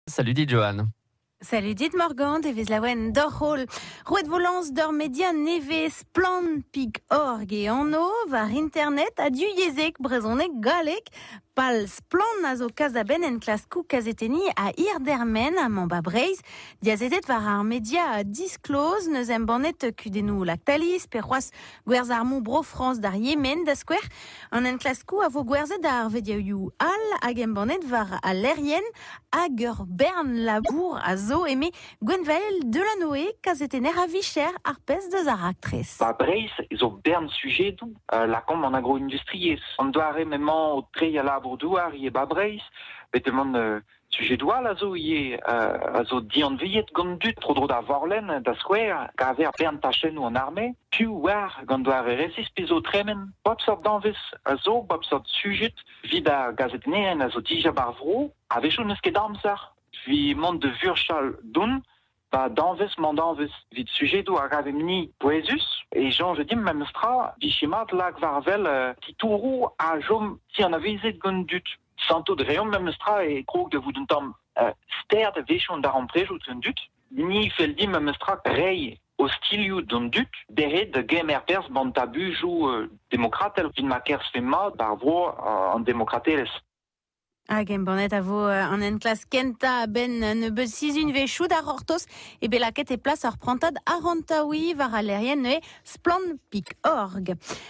Salut dit, Johan. Salut dit Morgand, e vez laouen doc'h-holl. Roet vo lañs d'ur media nevez splann.org e anv war internet ha du yezhek, brezhoneg, galleg. Pal Splann a zo kas da benn enklaskoù kazetenniñ a hirdermen amañ ba Breizh. Diazezet war ar media disclose, neus embannet kudennoù Lactalis, pe c'hoazh Gwerzh armoù Bro-Frañs d'ar Yemen, da skouer. An enklaskoù a vo gwerzhet ar vediaoù all hag embannet war al lec'hienn hag ur bern labour a zo, eme Gwenvael Delanoe, kazetenner a vicher ar pezh deus ar raktres. Ba Breizh zo bern sujedoù euh, lakaomp an agroindustriezh. An doare m'emañ o treiñ al labour-douar ivez ba Breizh, betek mont euh, Sujedoù all a zo ivez a zo dianviet gant dud tro-dro da Vorlenn, da skouer, kaver bern tachennoù an arme, piv oar gant doare resis pe zo tremen. Bep seurt danvez a zo, bep seurt sujed evit ar gazetennerien a zo dija ba'r vro. A-wechoù n'eus ket amzer evit mont da vurchal don Pa danvez mandanvez evit sujedoù a ravemp-ni pouezus e soñj dimp memestra vije mat lak war wel titouroù a chom ti anavezet gant dud. Santout reomp memestra e krog da vout un tamm ster da wechoù an darempredoù d'an dud. Ni fell dimp memestra reiñ ostilhoù d'an dud dezhe da gemer perzh ban tabujoù demokratel evit ma kerzhfe mat d'ar vro an demokratelezh. Hag embannet a vo euh, an enklask kentañ a-benn un nebeud sizhunvezhioù da c'hortoz eo bet lakaet e plas ar prantad arc'hantaouiñ war al lec'hienn neuze Splann Pik Org.